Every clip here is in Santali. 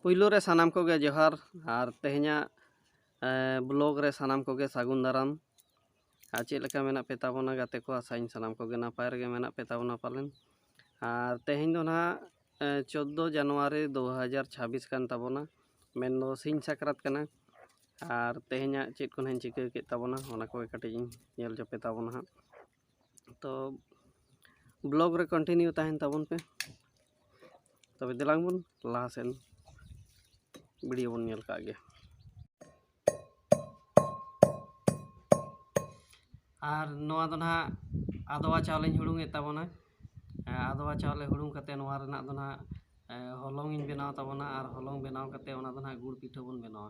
ᱯᱩᱭᱞᱩ ᱨᱮ ᱥᱟᱱᱟᱢ ᱠᱚᱜᱮ ᱡᱚᱦᱟᱨ ᱟᱨ ᱛᱮᱦᱮᱧᱟᱜ ᱵᱞᱚᱜ ᱨᱮ ᱥᱟᱱᱟᱢ ᱠᱚᱜᱮ ᱥᱟᱹᱜᱩᱱ ᱫᱟᱨᱟᱢ ᱟᱨ ᱪᱮᱫ ᱞᱮᱠᱟ ᱢᱮᱱᱟᱜ ᱯᱮ ᱛᱟᱵᱚᱱᱟ ᱜᱟᱛᱮ ᱠᱚ ᱟᱥᱟᱭᱟᱹᱧ ᱥᱟᱱᱟᱢ ᱠᱚᱜᱮ ᱱᱟᱯᱟᱭ ᱨᱮᱜᱮ ᱢᱮᱱᱟᱜ ᱯᱮ ᱛᱟᱵᱚᱱᱟ ᱯᱟᱞᱮᱱ ᱟᱨ ᱛᱮᱦᱮᱧ ᱫᱚ ᱱᱟᱦᱟᱜ ᱪᱳᱫᱫᱳ ᱡᱟᱱᱩᱣᱟᱨᱤ ᱫᱩ ᱦᱟᱡᱟᱨ ᱪᱷᱟᱵᱵᱤᱥ ᱠᱟᱱ ᱛᱟᱵᱚᱱᱟ ᱢᱮᱱᱫᱚ ᱥᱤᱧ ᱥᱟᱠᱨᱟᱛ ᱠᱟᱱᱟ ᱟᱨ ᱛᱮᱦᱮᱧᱟᱜ ᱪᱮᱫ ᱠᱚ ᱱᱟᱦᱟᱜ ᱤᱧ ᱪᱤᱠᱟᱹ ᱠᱮᱫ ᱛᱟᱵᱚᱱᱟ ᱚᱱᱟ ᱠᱚᱜᱮ ᱠᱟᱹᱴᱤᱡ ᱤᱧ ᱧᱮᱞ ᱪᱚᱯᱮ ᱛᱟᱵᱚᱱᱟ ᱦᱟᱸᱜ ᱛᱚ ᱵᱞᱚᱜᱽ ᱨᱮ ᱠᱚᱱᱴᱤᱱᱤᱭᱩ ᱛᱟᱦᱮᱱ ᱛᱟᱵᱚᱱ ᱯᱮ ᱛᱚᱵᱮ ᱫᱮᱞᱟᱝ ᱵᱚᱱ ᱞᱟᱦᱟ ᱥᱮᱱ ᱵᱷᱤᱰᱤᱭᱳ ᱵᱚᱱ ᱧᱮᱞ ᱠᱟᱜ ᱜᱮ ᱟᱨ ᱱᱚᱣᱟ ᱫᱚ ᱱᱟᱦᱟᱜ ᱟᱫᱣᱟ ᱪᱟᱣᱞᱮᱧ ᱦᱩᱲᱩᱝᱮᱫ ᱛᱟᱵᱚᱱᱟ ᱟᱫᱣᱟ ᱪᱟᱣᱞᱮ ᱦᱩᱲᱩᱝ ᱠᱟᱛᱮ ᱱᱚᱣᱟ ᱨᱮᱱᱟᱜ ᱫᱚ ᱱᱟᱦᱟᱜ ᱦᱚᱞᱚᱝ ᱤᱧ ᱵᱮᱱᱟᱣ ᱛᱟᱵᱚᱱᱟ ᱟᱨ ᱦᱚᱞᱚᱝ ᱵᱮᱱᱟᱣ ᱠᱟᱛᱮ ᱚᱱᱟ ᱫᱚ ᱱᱟᱦᱟᱜ ᱜᱩᱲ ᱯᱤᱴᱷᱟᱹ ᱵᱚᱱ ᱵᱮᱱᱟᱣᱟ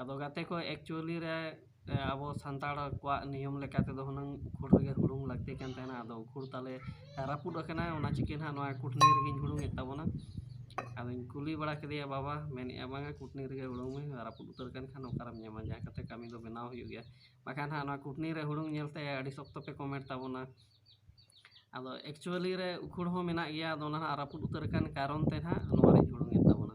ᱟᱫᱚ ᱜᱟᱛᱮ ᱠᱚ ᱮᱠᱪᱩᱭᱮᱞᱤ ᱨᱮ ᱟᱵᱚ ᱥᱟᱱᱛᱟᱲ ᱠᱚᱣᱟᱜ ᱱᱤᱭᱚᱢ ᱞᱮᱠᱟ ᱛᱮᱫᱚ ᱦᱩᱱᱟᱹᱝ ᱩᱠᱷᱩᱲ ᱨᱮᱜᱮ ᱦᱩᱲᱩᱝ ᱞᱟᱹᱠᱛᱤ ᱠᱟᱱ ᱛᱟᱦᱮᱱᱟ ᱟᱫᱚ ᱩᱠᱷᱩᱲ ᱛᱟᱞᱮ ᱨᱟᱹᱯᱩᱫ ᱟᱠᱟᱱᱟ ᱚᱱᱟ ᱪᱤᱠᱟᱹ ᱱᱟᱦᱟᱜ ᱱᱚᱣᱟ ᱠᱩᱴᱱᱤ ᱨᱮᱜᱮᱧ ᱦᱩᱲᱩᱝ ᱮᱫ ᱛᱟᱵᱚᱱᱟ ᱟᱫᱚᱧ ᱠᱩᱞᱤ ᱵᱟᱲᱟ ᱠᱮᱫᱮᱭᱟ ᱵᱟᱵᱟ ᱢᱮᱱ ᱮᱫᱟᱭ ᱵᱟᱝᱟ ᱠᱩᱴᱱᱤ ᱨᱮᱜᱮ ᱦᱩᱲᱩᱝ ᱢᱮ ᱨᱟᱹᱯᱩᱫ ᱩᱛᱟᱹᱨ ᱟᱠᱟᱱ ᱠᱷᱟᱱ ᱚᱠᱟᱨᱮᱢ ᱧᱟᱢᱟ ᱡᱟᱦᱟᱸ ᱞᱮᱠᱟᱛᱮ ᱠᱟᱹᱢᱤ ᱫᱚ ᱵᱮᱱᱟᱣ ᱦᱩᱭᱩᱜ ᱜᱮᱭᱟ ᱵᱟᱠᱷᱟᱱ ᱦᱟᱸᱜ ᱱᱚᱣᱟ ᱠᱩᱴᱱᱤ ᱨᱮ ᱦᱩᱲᱩᱝ ᱧᱮᱞ ᱛᱮ ᱟᱹᱰᱤ ᱥᱚᱠᱛᱚ ᱯᱮ ᱠᱚᱢᱮᱱᱴ ᱛᱟᱵᱚᱱᱟ ᱟᱫᱚ ᱮᱠᱪᱩᱭᱮᱞᱤ ᱨᱮ ᱩᱠᱷᱩᱲ ᱦᱚᱸ ᱢᱮᱱᱟᱜ ᱜᱮᱭᱟ ᱟᱫᱚ ᱚᱱᱟ ᱦᱟᱸᱜ ᱨᱟᱹᱯᱩᱫ ᱩᱛᱟᱹᱨ ᱟᱠᱟᱱ ᱠᱟᱨᱚᱱ ᱛᱮ ᱱᱟᱦᱟᱜ ᱱᱚᱣᱟᱧ ᱦᱩᱲᱩᱝ ᱮᱫ ᱛᱟᱵᱚᱱᱟ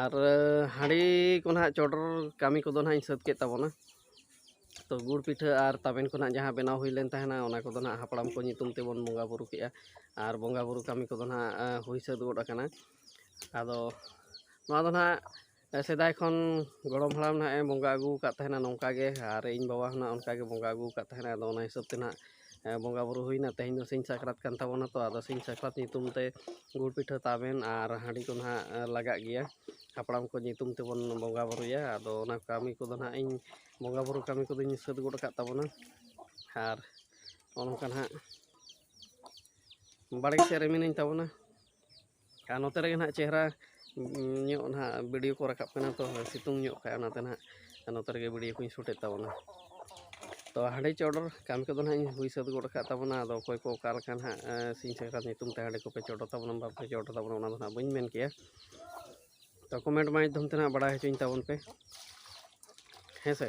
ᱟᱨ ᱦᱟᱺᱰᱤ ᱠᱚ ᱱᱟᱦᱟᱜ ᱪᱚᱰᱚᱨ ᱠᱟᱹᱢᱤ ᱠᱚᱫᱚ ᱱᱟᱦᱟᱜ ᱤᱧ ᱥᱟᱹᱛ ᱠᱮᱫ ᱛᱟᱵᱚᱱᱟ ᱛᱚ ᱜᱩᱲ ᱯᱤᱴᱷᱟᱹ ᱟᱨ ᱛᱟᱵᱮᱱ ᱠᱚ ᱱᱟᱦᱟᱜ ᱡᱟᱦᱟᱸ ᱵᱮᱱᱟᱣ ᱦᱩᱭ ᱞᱮᱱ ᱛᱟᱦᱮᱱᱟ ᱚᱱᱟ ᱠᱚᱫᱚ ᱱᱟᱦᱟᱜ ᱦᱟᱯᱲᱟᱢ ᱠᱚ ᱧᱩᱛᱩᱢ ᱛᱮᱵᱚᱱ ᱵᱚᱸᱜᱟ ᱵᱳᱨᱳ ᱠᱮᱜᱼᱟ ᱟᱨ ᱵᱚᱸᱜᱟ ᱵᱳᱨᱳ ᱠᱟᱹᱢᱤ ᱠᱚᱫᱚ ᱱᱟᱦᱟᱜ ᱦᱩᱭ ᱥᱟᱹᱛ ᱜᱚᱫ ᱟᱠᱟᱱᱟ ᱟᱫᱚ ᱱᱚᱣᱟ ᱫᱚ ᱱᱟᱦᱟᱜ ᱥᱮᱫᱟᱭ ᱠᱷᱚᱱ ᱜᱚᱲᱚᱢ ᱦᱟᱲᱟᱢ ᱱᱟᱦᱟᱜ ᱮ ᱵᱚᱸᱜᱟ ᱟᱹᱜᱩ ᱟᱠᱟᱫ ᱛᱟᱦᱮᱱᱟ ᱱᱚᱝᱠᱟ ᱜᱮ ᱟᱨ ᱤᱧ ᱵᱟᱵᱟ ᱦᱚᱸ ᱱᱟᱦᱟᱜ ᱚᱱᱠᱟ ᱜᱮ ᱵᱚᱸᱜᱟ ᱟᱹᱜᱩ ᱟᱠᱟᱫ ᱛᱟᱦᱮᱱᱟᱭ ᱟᱫᱚ ᱚᱱᱟ ᱦᱤᱥᱟᱹᱵ ᱛᱮ ᱱᱟᱦᱟᱜ ᱵᱚᱸᱜᱟ ᱵᱩᱨᱩ ᱦᱩᱭᱱᱟ ᱛᱮᱦᱮᱧ ᱫᱚ ᱥᱤᱧ ᱥᱟᱠᱨᱟᱛ ᱠᱟᱱ ᱛᱟᱵᱚᱱᱟ ᱛᱚ ᱟᱫᱚ ᱥᱤᱧ ᱥᱟᱠᱨᱟᱛ ᱧᱩᱛᱩᱢ ᱛᱮ ᱜᱩᱲ ᱯᱤᱴᱷᱟᱹ ᱛᱟᱵᱮᱱ ᱟᱨ ᱦᱟᱺᱰᱤ ᱠᱚ ᱱᱟᱦᱟᱜ ᱞᱟᱜᱟᱜ ᱜᱮᱭᱟ ᱦᱟᱯᱲᱟᱢ ᱠᱚ ᱧᱩᱛᱩᱢ ᱛᱮᱵᱚᱱ ᱵᱚᱸᱜᱟ ᱵᱩᱨᱩᱭᱟ ᱟᱫᱚ ᱚᱱᱟ ᱠᱟᱹᱢᱤ ᱠᱚᱫᱚ ᱱᱟᱦᱟᱜ ᱤᱧ ᱵᱚᱸᱜᱟ ᱵᱩᱨᱩ ᱠᱟᱹᱢᱤ ᱠᱚᱫᱚᱧ ᱥᱟᱹᱛ ᱜᱚᱫ ᱟᱠᱟᱫ ᱛᱟᱵᱚᱱᱟ ᱟᱨ ᱱᱚᱜᱼᱚ ᱱᱚᱝᱠᱟ ᱱᱟᱦᱟᱜ ᱵᱟᱲᱜᱮ ᱥᱮᱫ ᱨᱮ ᱢᱤᱱᱟᱹᱧ ᱛᱟᱵᱚᱱᱟ ᱟᱨ ᱱᱚᱛᱮ ᱨᱮᱜᱮ ᱱᱟᱦᱟᱜ ᱪᱮᱦᱨᱟ ᱧᱚᱜ ᱱᱟᱦᱟᱜ ᱵᱷᱤᱰᱤᱭᱳ ᱠᱚ ᱨᱟᱠᱟᱵ ᱠᱟᱱᱟ ᱛᱚ ᱥᱤᱛᱩᱝ ᱧᱚᱜ ᱠᱷᱟᱡ ᱚᱱᱟᱛᱮ ᱱᱟᱦᱟᱜ ᱱᱚᱛᱮ ᱨᱮᱜᱮ ᱵᱷᱤᱰᱤᱭᱳ ᱠᱚᱧ ᱥᱩᱴᱮᱫ ᱛᱟᱵᱚᱱᱟ ᱛᱚ ᱦᱟᱺᱰᱤ ᱪᱚᱰᱚᱨ ᱠᱟᱹᱢᱤ ᱠᱚᱫᱚ ᱱᱟᱦᱟᱜ ᱤᱧ ᱦᱩᱭ ᱥᱟᱹᱛ ᱜᱚᱫ ᱟᱠᱟᱫ ᱛᱟᱵᱚᱱᱟ ᱟᱫᱚ ᱚᱠᱚᱭ ᱠᱚ ᱚᱠᱟ ᱞᱮᱠᱟ ᱱᱟᱦᱟᱜ ᱥᱤᱧ ᱥᱟᱠᱨᱟᱛ ᱧᱩᱛᱩᱢ ᱛᱮ ᱦᱟᱺᱰᱤ ᱠᱚᱯᱮ ᱪᱚᱰᱚᱨ ᱛᱟᱵᱚᱱᱟ ᱵᱟᱯᱮ ᱪᱚᱰᱚᱨ ᱛᱟᱵᱚᱱᱟ ᱚᱱᱟ ᱫᱚ ᱱᱟᱦᱟᱜ ᱵᱟᱹᱧ ᱢᱮᱱ ᱠᱮᱭᱟ ᱛᱚ ᱠᱚᱢᱮᱱᱴ ᱢᱟᱫᱽᱫᱷᱚᱢ ᱛᱮ ᱱᱟᱦᱟᱜ ᱵᱟᱲᱟᱭ ᱦᱚᱪᱚᱧ ᱛᱟᱵᱚᱱ ᱯᱮ ᱦᱮᱸ ᱥᱮ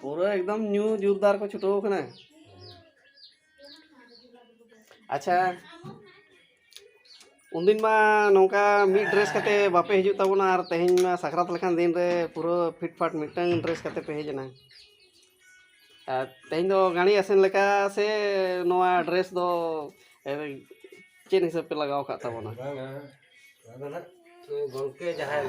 ᱯᱩᱨᱟᱹ ᱮᱠᱫᱚᱢ ᱧᱩ ᱡᱳᱨᱫᱟᱨ ᱠᱚ ᱪᱷᱩᱴᱟᱹᱣ ᱠᱟᱱᱟ ᱟᱪᱪᱷᱟ ᱩᱱᱫᱤᱱ ᱢᱟ ᱱᱚᱝᱠᱟ ᱢᱤᱫ ᱰᱨᱮᱥ ᱠᱟᱛᱮ ᱵᱟᱯᱮ ᱦᱤᱡᱩᱜ ᱛᱟᱵᱚᱱᱟ ᱟᱨ ᱛᱮᱦᱮᱧ ᱢᱟ ᱥᱟᱠᱨᱟᱛ ᱞᱮᱠᱟᱱ ᱫᱤᱱ ᱨᱮ ᱯᱩᱨᱟᱹ ᱯᱷᱤᱴ ᱯᱷᱟᱴ ᱢᱤᱫᱴᱟᱝ ᱰᱨᱮᱥ ᱠᱟᱛᱮ ᱯᱮ ᱦᱮᱡ ᱮᱱᱟ ᱟᱨ ᱛᱮᱦᱮᱧ ᱫᱚ ᱜᱟᱹᱲᱤ ᱟᱥᱮᱱ ᱞᱮᱠᱟ ᱥᱮ ᱱᱚᱣᱟ ᱰᱨᱮᱥ ᱫᱚ ᱪᱮᱫ ᱦᱤᱥᱟᱹᱵ ᱯᱮ ᱞᱟᱜᱟᱣ ᱟᱠᱟᱫ ᱛᱟᱵᱚᱱᱟ ᱜᱚᱢᱠᱮ ᱡᱟᱦᱟᱸᱭ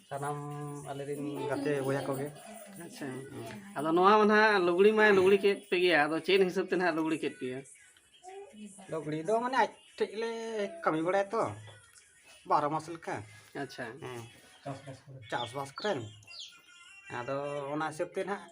ᱥᱟᱱᱟᱢ ᱟᱞᱮ ᱨᱮᱱ ᱜᱟᱛᱮ ᱵᱚᱭᱦᱟ ᱠᱚᱜᱮ ᱟᱪᱪᱷᱟ ᱟᱫᱚ ᱱᱚᱣᱟ ᱢᱟ ᱱᱟᱦᱟᱜ ᱞᱩᱜᱽᱲᱤ ᱢᱟᱭ ᱞᱩᱜᱽᱲᱤ ᱠᱮᱫ ᱯᱮ ᱜᱮᱭᱟ ᱟᱫᱚ ᱪᱮᱫ ᱦᱤᱥᱟᱹᱵ ᱛᱮ ᱱᱟᱦᱟᱜ ᱞᱩᱜᱽᱲᱤ ᱠᱮᱫ ᱯᱮᱭᱟ ᱞᱩᱜᱽᱲᱤ ᱫᱚ ᱢᱟᱱᱮ ᱟᱡ ᱴᱷᱮᱡ ᱞᱮ ᱠᱟᱹᱢᱤ ᱵᱟᱲᱟᱭᱟ ᱛᱚ ᱵᱟᱨᱚ ᱢᱟᱥ ᱞᱮᱠᱟ ᱟᱪᱪᱷᱟ ᱦᱮᱸ ᱪᱟᱥᱵᱟᱥ ᱠᱚᱨᱮᱱ ᱟᱫᱚ ᱚᱱᱟ ᱦᱤᱥᱟᱹᱵ ᱛᱮ ᱱᱟᱦᱟᱜ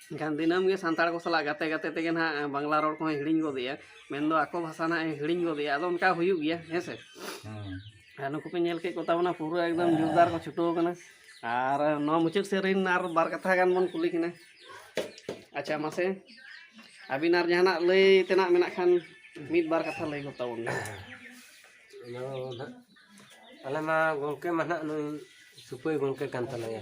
ᱮᱱᱠᱷᱟᱱ ᱫᱤᱱᱟᱹᱢ ᱜᱮ ᱥᱟᱱᱛᱟᱲ ᱠᱚ ᱥᱟᱞᱟᱜ ᱜᱟᱛᱮ ᱜᱟᱛᱮ ᱛᱮᱜᱮ ᱱᱟᱦᱟᱜ ᱵᱟᱝᱞᱟ ᱨᱚᱲ ᱠᱚᱦᱚᱸᱭ ᱦᱤᱲᱤᱧ ᱜᱚᱫᱮᱜᱼᱟ ᱢᱮᱱᱫᱚ ᱟᱠᱚ ᱵᱷᱟᱥᱟ ᱱᱟᱦᱟᱜ ᱮ ᱦᱤᱲᱤᱧ ᱜᱚᱫᱮᱜᱼᱟ ᱟᱫᱚ ᱚᱱᱠᱟ ᱦᱩᱭᱩᱜ ᱜᱮᱭᱟ ᱦᱮᱸ ᱥᱮ ᱟᱨ ᱱᱩᱠᱩ ᱯᱮ ᱧᱮᱞ ᱠᱮᱫ ᱠᱚᱛᱟ ᱵᱚᱱᱟ ᱯᱩᱨᱟᱹ ᱮᱠᱫᱚᱢ ᱡᱳᱨᱫᱟᱨ ᱠᱚ ᱪᱷᱩᱴᱟᱹᱣ ᱠᱟᱱᱟ ᱟᱨ ᱱᱚᱣᱟ ᱢᱩᱪᱟᱹᱫ ᱥᱮᱫ ᱨᱮᱱ ᱟᱨ ᱵᱟᱨ ᱠᱟᱛᱷᱟ ᱜᱟᱱ ᱵᱚᱱ ᱠᱩᱞᱤ ᱠᱤᱱᱟ ᱟᱪᱪᱷᱟ ᱢᱟᱥᱮ ᱟᱹᱵᱤᱱ ᱟᱨ ᱡᱟᱦᱟᱱᱟᱜ ᱞᱟᱹᱭ ᱛᱮᱱᱟᱜ ᱢᱮᱱᱟᱜ ᱠᱷᱟᱱ ᱢᱤᱫ ᱵᱟᱨ ᱠᱟᱛᱷᱟ ᱞᱟᱹᱭ ᱜᱚᱫ ᱛᱟᱵᱚᱱ ᱵᱤᱱ ᱟᱞᱮ ᱢᱟ ᱜᱚᱢᱠᱮ ᱢᱟ ᱱᱟᱦᱟᱜ ᱱᱩᱭ ᱥᱩᱯᱟᱹᱭ ᱜᱚᱢᱠᱮ ᱠᱟᱱ ᱛᱟᱞᱮᱭᱟ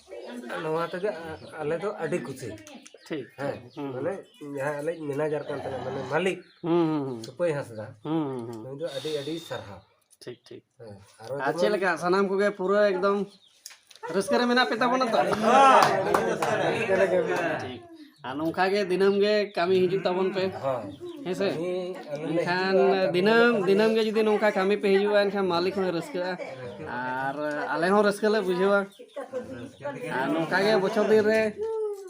ᱱᱚᱣᱟ ᱛᱮᱜᱮ ᱟᱞᱮ ᱫᱚ ᱟᱹᱰᱤ ᱠᱩᱥᱤ ᱴᱷᱤᱠ ᱦᱮᱸ ᱢᱟᱱᱮ ᱡᱟᱦᱟᱸ ᱟᱞᱮ ᱢᱮᱱᱮᱡᱟᱨ ᱠᱟᱱ ᱛᱟᱞᱮᱭᱟ ᱢᱟᱱᱮ ᱢᱟᱹᱞᱤᱠ ᱥᱩᱯᱟᱹᱭ ᱦᱟᱸᱥᱫᱟ ᱱᱩᱭ ᱫᱚ ᱟᱹᱰᱤ ᱟᱹᱰᱤ ᱥᱟᱨᱦᱟᱣ ᱴᱷᱤᱠ ᱴᱷᱤᱠ ᱟᱨ ᱪᱮᱫ ᱞᱮᱠᱟ ᱥᱟᱱᱟᱢ ᱠᱚᱜᱮ ᱯᱩᱨᱟᱹ ᱮᱠᱫᱚᱢ ᱨᱟᱹᱥᱠᱟᱹ ᱨᱮ ᱢᱮᱱᱟᱜ ᱯᱮ ᱛᱟᱵᱚᱱᱟ ᱛᱚ ᱴᱷᱤᱠ ᱟᱨ ᱱᱚᱝᱠᱟ ᱜᱮ ᱫᱤᱱᱟᱹᱢ ᱜᱮ ᱠᱟᱹᱢᱤ ᱦᱤᱡᱩᱜ ᱛᱟᱵᱚᱱ ᱯᱮ ᱦᱮᱸ ᱥᱮ ᱮᱱᱠᱷᱟᱱ ᱫᱤᱱᱟᱹᱢ ᱫᱤᱱᱟᱹᱢ ᱜᱮ ᱡᱩᱫᱤ ᱱᱚᱝᱠᱟ ᱠᱟᱹᱢᱤ ᱯᱮ ᱦᱤᱡᱩᱜᱼᱟ ᱮᱱᱠᱷᱟᱱ ᱢᱟᱹᱞᱤᱠ ᱦᱚᱸᱭ ᱨᱟᱹᱥᱠᱟᱹᱜᱼᱟ ᱟᱨ ᱟᱞᱮ ᱦᱚᱸ ᱨᱟᱹᱥᱠᱟᱹ ᱞᱮ ᱵᱩᱡᱷᱟᱹᱣᱟ ᱟᱨ ᱱᱚᱝᱠᱟ ᱜᱮ ᱵᱚᱪᱷᱚᱨ ᱫᱤᱱ ᱨᱮ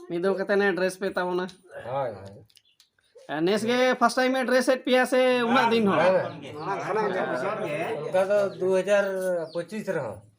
ᱢᱤᱫ ᱫᱚᱢ ᱠᱟᱛᱮ ᱱᱮ ᱰᱨᱮᱥ ᱯᱮ ᱛᱟᱵᱚᱱᱟ ᱦᱳᱭ ᱦᱳᱭ ᱱᱮᱥ ᱜᱮ ᱯᱷᱟᱥᱴ ᱴᱟᱭᱤᱢ ᱮ ᱰᱨᱮᱥ ᱮᱫ ᱯᱮᱭᱟ ᱥᱮ ᱩᱱᱟᱹᱜ ᱫᱤᱱ ᱦᱚᱸ ᱚᱱᱠᱟ ᱫᱚ ᱫᱩ ᱦᱟᱡᱟᱨ ᱯᱚᱸᱪᱤᱥ ᱨᱮᱦᱚᱸ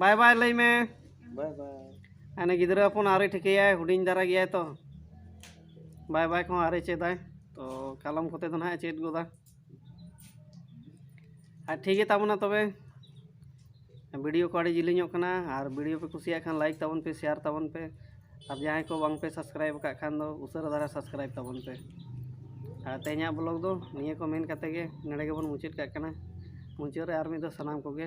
ᱵᱟᱭ ᱵᱟᱭ ᱞᱟᱹᱭ ᱢᱮ ᱵᱟᱭ ᱵᱟᱭ ᱦᱟᱱᱮ ᱜᱤᱫᱽᱨᱟᱹ ᱦᱚᱯᱚᱱ ᱟᱹᱣᱨᱤ ᱴᱷᱤᱠᱟᱹᱭᱟᱭ ᱦᱩᱰᱤᱧ ᱫᱷᱟᱨᱟ ᱜᱮᱭᱟᱭ ᱛᱚ ᱵᱟᱭ ᱵᱟᱭ ᱠᱚᱦᱚᱸ ᱟᱹᱣᱨᱤ ᱪᱮᱫᱟᱭ ᱛᱚ ᱠᱟᱞᱚᱢ ᱠᱚᱛᱮ ᱫᱚ ᱱᱟᱦᱟᱜ ᱪᱮᱫ ᱜᱚᱫᱟ ᱟᱨ ᱴᱷᱤᱠ ᱜᱮ ᱛᱟᱵᱚᱱᱟ ᱛᱚᱵᱮ ᱵᱷᱤᱰᱤᱭᱳ ᱠᱚ ᱟᱹᱰᱤ ᱡᱤᱞᱤᱧᱚᱜ ᱠᱟᱱᱟ ᱟᱨ ᱵᱷᱤᱰᱤᱭᱳ ᱯᱮ ᱠᱩᱥᱤᱭᱟᱜ ᱠᱷᱟᱱ ᱞᱟᱭᱤᱠ ᱛᱟᱵᱚᱱ ᱯᱮ ᱥᱮᱭᱟᱨ ᱛᱟᱵᱚᱱ ᱯᱮ ᱟᱨ ᱡᱟᱦᱟᱸᱭ ᱠᱚ ᱵᱟᱝ ᱯᱮ ᱥᱟᱵᱥᱠᱨᱟᱭᱤᱵ ᱟᱠᱟᱫ ᱠᱷᱟᱱ ᱫᱚ ᱩᱥᱟᱹᱨᱟ ᱫᱷᱟᱨᱟ ᱥᱟᱵᱥᱠᱨᱟᱭᱤᱵ ᱛᱟᱵᱚᱱ ᱯᱮ ᱟᱨ ᱛᱮᱦᱮᱧᱟᱜ ᱵᱞᱚᱜ ᱫᱚ ᱱᱤᱭᱟᱹ ᱠᱚ ᱢᱮᱱ ᱠᱟᱛᱮ ᱜᱮ ᱱᱚᱰᱮ ᱜᱮᱵᱚᱱ ᱢᱩᱪᱟᱹᱫ ᱠᱟᱜ ᱠᱟᱱᱟ ᱢᱩᱪᱟᱹᱫ ᱨᱮ ᱟᱨ ᱢᱤᱫ ᱫᱷᱟᱣ ᱥᱟᱱᱟᱢ ᱠᱚᱜᱮ